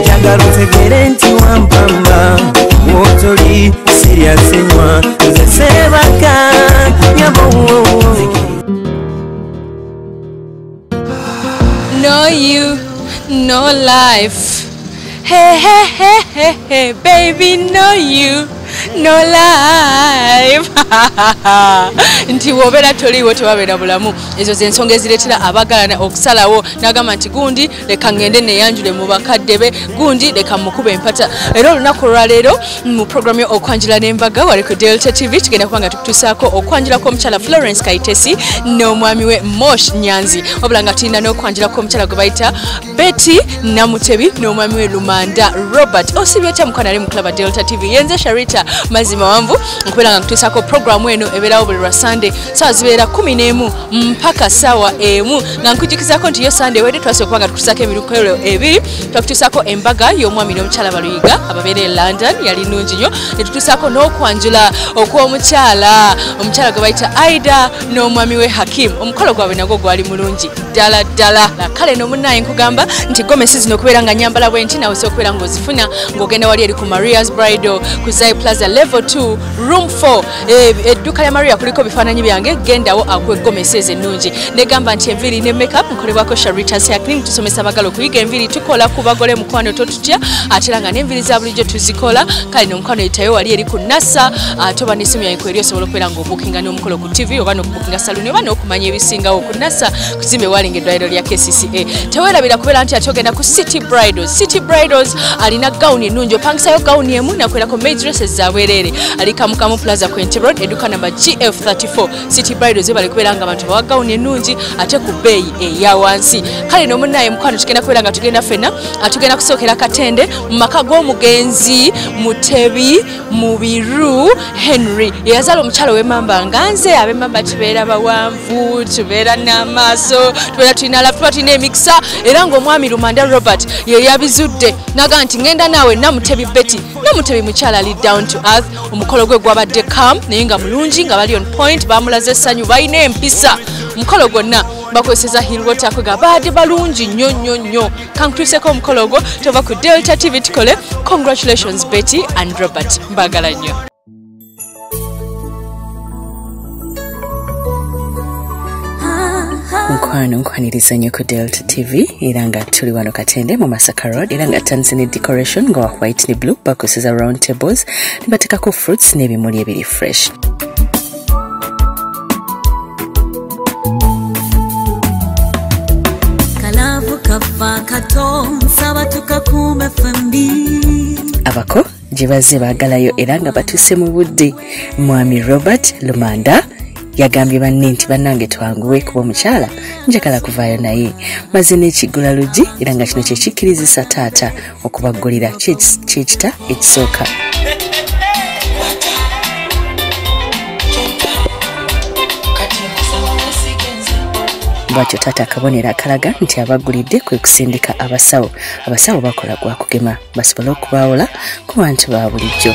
njagala otegere nti wampamba wotoli siryasenywa nze sebaka No you, no life. Hey, hey, hey, hey, hey, baby, no you. no life nti wobeera toliiwo tewabeera bulamu ezo zensonga ezireetera abagalana okusalawo nagamba nti gundi leka ngende neyanjule mu bakadde be gundi leka mukuba empata era olunaku olwaleero mu programu okwanjula n'embaga wali ku delta tv tugenda kuba nga tukutusaako okwanjula kw'omukyala florence kaitesi n'omwami we mosh nyanzi wabula nga tulina n'okwanjula kw'omukyala gwe bayita betty namutebi n'omwami we lumanda robert osibye otya mukwana ali mukulaba delta tv yenze sharita mazima wanvu nkubeera nga nkutuusaako programu eno ebeerawo buli lwa sande sawa zibeera kumi n'emu mpaka sawa emu nga nkujukizako nti yo sande wede twasooka kuba nga tukutusako emirukolo ebiri twakutusako embaga y'omwami n'omukyala baluyiga ababeera e london yali nungi nyo netutusako n'okwanjula okw'omukyala omukyala gwe bayita aida n'omwami we hakim omukolo gwabwe nagwo gwali mulungi ddala ddala kale nomunaye nkugamba nti gomesi zino okubeera nga nyambala bwe nti nawe sokubeera ng'ozifuna ng'ogenda wali eri ku marias bridal ku zai plaza level 2 room 4 Eh, edduuka lya maria kuliko bifaananyi byange gendawo akuwa eggomesa ezo ennungi negamba nti enviiri ne makeup nkolebwako sharitas yaclim tusomesa abagala okuyiga enviiri tukola ku bagole mukwano totutya ate era nga n'enviiri za bulijjo tuzikola kale nomukwano yitayo wali eri ku nasa ah, toba n'essimu yaiko eri osobola okubeera ng'obuukinga n'omukolo ku tv oba nga saluni oba n'okumanya ebisingawo ku nasa kuzimba ewalinga eddwaliro lya kcca tewerabira kubeera nti ati ogenda ku city bridals city bridals alina gawuni ennungi opangisayo gawuni emu nakwerako maidresses zabwereere ali kamukamu plaza quinty road eduka namba gf 34 city bridals ebali kubeera nga abantu bawa gawuni ennungi ate ku bbeeyi eya wansi kale nomunaye mukwano tugenda kubeera nga tugenda fenna atugenda kusookera katende mu maka g'omugenzi mutebi mubiru henry eyazaala omukyala owemamba nga nze abemamba tubeera bawanvu tubeera n'amaaso tubeera tulina lafu tuba tulina emikisa era ngaomwami lumanda robert yeyabizudde naga nti ngenda naawe namutebi betty namutebi mukyala ali down to earth omukolo gwe gwabadde cam naye nga mulungi nga bali on point bamulaze essanyu balina empisa omukolo gwonna bakozeseza hilwater kwega baadde balungi nnyo nnyo nnyo kankutuuseko omukolo ogwo tova ku delta tv tukole congratulations betty and robert mbagala nnyo mukwano nkwaniriza nnyo ku delta tv era nga tuli wano katende mu masaka road era nga tandise ne decoration nga wa white ne blue bakozesa round tables ne bateekako fruits n'ebimuli ebiri fresh abako gye bazze baagalayo era nga batuuse mu budde mwami robert lumanda yagambye banne nti bannange twanguwe kuba omukyala njagala kuvaayo naye maze n'ekiggula luggi era nga kino kyekikkirizisa taata okubaggulira kyekita ekisooka bwatyo taata akabonero akalaga nti abaggulidde kwe kusindika abasawo abasawo bakola gwa kugema basobole okubawola ku bantu ba bulijjo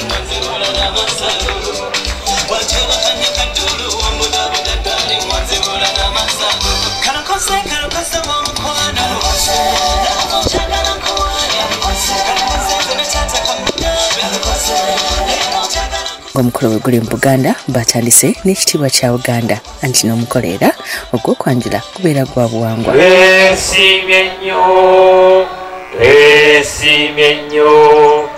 omukolo we guli mu buganda batandise n'ekitiibwa kya buganda anti n'omukolo era ogw'okwanjula kubeera gwa buwangwa twesimye nnyo twesimye nnyo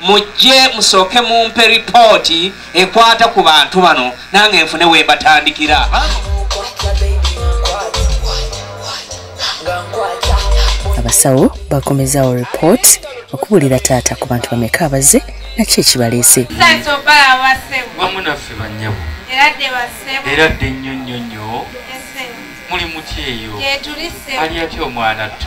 mujje musooke mumpe ripooti ekwata ku bantu bano nange nfune wembatandikira abasawo bakomezawo report okubulira taata ku bantu bameka abaze naki ekibaleese wamunaffe banyabo era dde nnyo nnyo nnyo muli mutyeeyo ali atya omwana ttu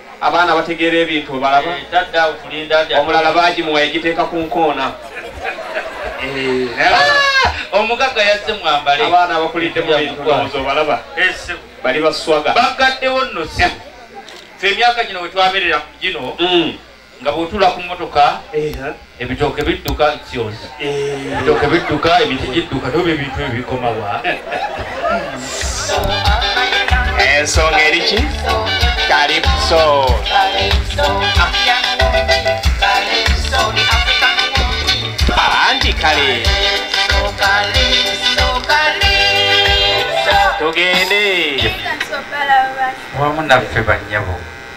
abaana bategeera ebintu obalaba eh, omulala bagimuwa yagiteeka ku nkoona eh, ah! omugagga yazze mwambale abaana abakulidde mu bintu bawoza obalaba eh, bali baswaga bagaddewo nno si fe emyaka gino wetwaberera ku gino mm. nga bwotula ku motoka ebitooke bidduka kios ebitooke bidduka emiti gidduka toba ebintu ebikomawa ensonga eriki kalipso anti kale tugende wamu naffe bannyabo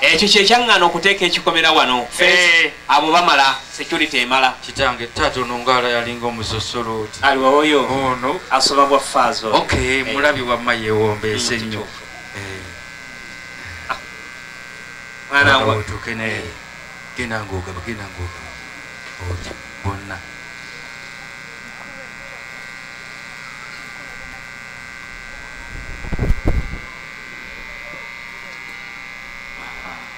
ekyo kyekyaŋŋana okuteeka ekikomera wano eh. abo bamala security emala kitange taata ono ngaala yalinga omusosolooti aliwaoyo ono asoba bwa faazo ok eh. mulabi wamma yewombeese mm, nnyo eh. ah. mwanangutuke naye genda ngaogaba genda ngaogaba oti bonna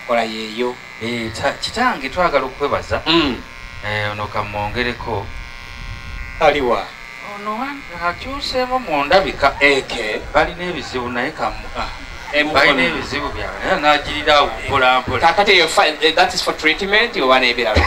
kola yeeyo eh, kitange twagala okukwebaza hmm. eh, ono kamwongereko aliwa ono akyuseemu mu ndabika eke balina ebizibu naye kamu ah. balina ebizibu byabwe nagirira awo mpolampola kakati eh, that is for treatment oba nebirala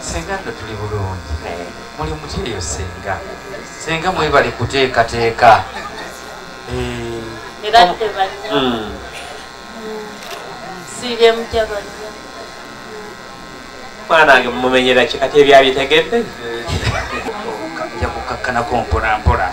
senga no tuli bulungi muli mutyeyo senga senga mwebali kuteekateeka era tebalina hmm. siire mutabani mwanange mumumenyera ki kati ebyabitegedde nja kukakkanako mpolampola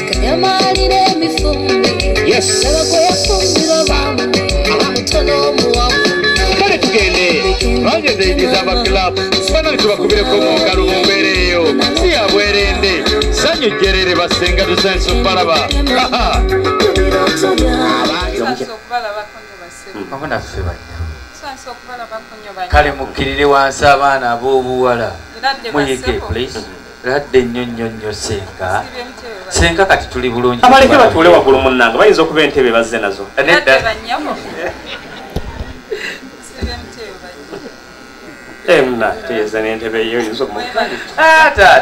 kale tugende bangezeyidiza abaclub banani tubakubireko mungalo mumbeereeyo si yabwerende sanyu jerere basenga tusensi okubalaba kale mukkirire wansi abaana ab'obuwala muyige please ladde nnyo nnyo nnyo senga senga kati tuli bulungi abaleke batuule waggulu munnanga bayinza okuba entebe bazze nazo emna eh, teyeza nentebe yo yinza omutaata ah,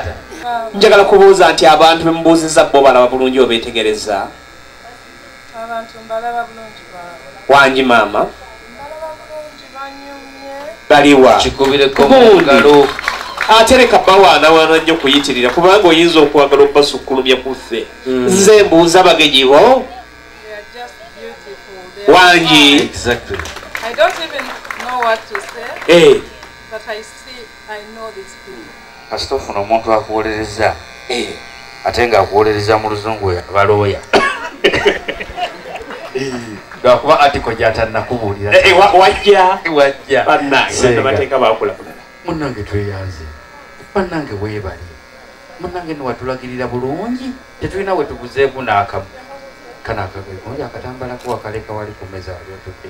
njagala kubuuza nti abantu bemubuuzizza bo balaba bulungi obetegereza wangi maama baliwa gundi ate leka bawaanawaana nnyo kuyitirira kubanga oyinza okwagala okubasukkulumya ku ffe hmm. nze mbuuza bagenyi bo wangi kasita ofuna omuntu akuwolereza eh. ate nga akuwolereza mu luzungu oyo aba looya eh. lwakuba atiko gyatanakubuulira eh, wajja wajja bannangebateeka bakulakulala munnange tweyanze bannange weebali munnange niwatulagirira bulungi tetulina wetuguzeeku naakamu kana akagoye kungi akatambalako wakaleka wali ku meza wali otudde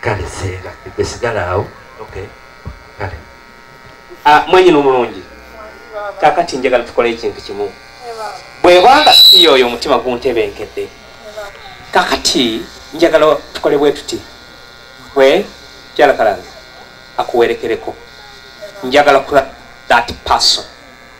kale senga esigala awo okay kale ah mwenyini omulungi kakati njagala tukole ekintu kimu bwebanga siyo oyo omutima guntebenkedde kakati njagala tukole bwe tuti we kyalakalanga akuwerekereko njagala kula that person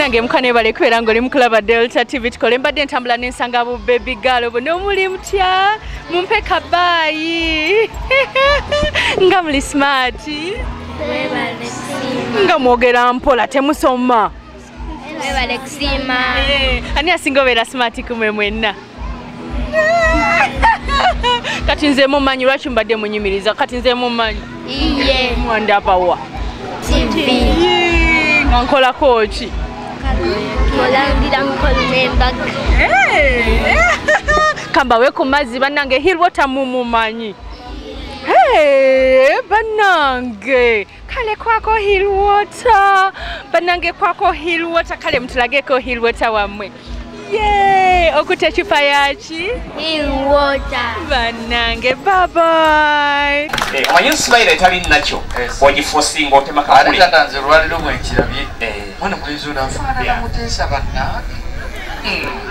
nange muka nebale kubeera nga oli mukulaba delta tv tukole mbadde ntambula nensanga bu baby gal obo nomuli mutya mumpe kabaayi nga muli smarti nga mwogera mpola temusoma webale kusiima eh, ani asinga obeera smart kumwe mwenna kati nze mumanyi lwaki mbadde munyumiriza kati nze mumanyi iye mwandabawa nga nkolako ki olandira mukolo nembaga eh, eh. kambawe ku mazzi bannange hirwota mumumanyi Hey, banange kale kwako hill water banange kwako hill water kale mutulageko hill water wammwe ye okuta ecupa yaki hill water banange babai eh, omanyi nsibayira etali nakyo ogifosinga otema kakuleatanze olwaliro bwenkirabye eh. mwana mulenzi onafaanana muteesa banange hmm.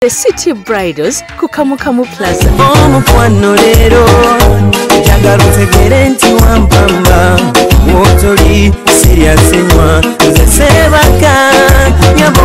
The City Bridals ku Kamukamu Plaza. Omukwano leero njagala otegere nti wampamba wotoli siryasenywa nze sebaka nyabo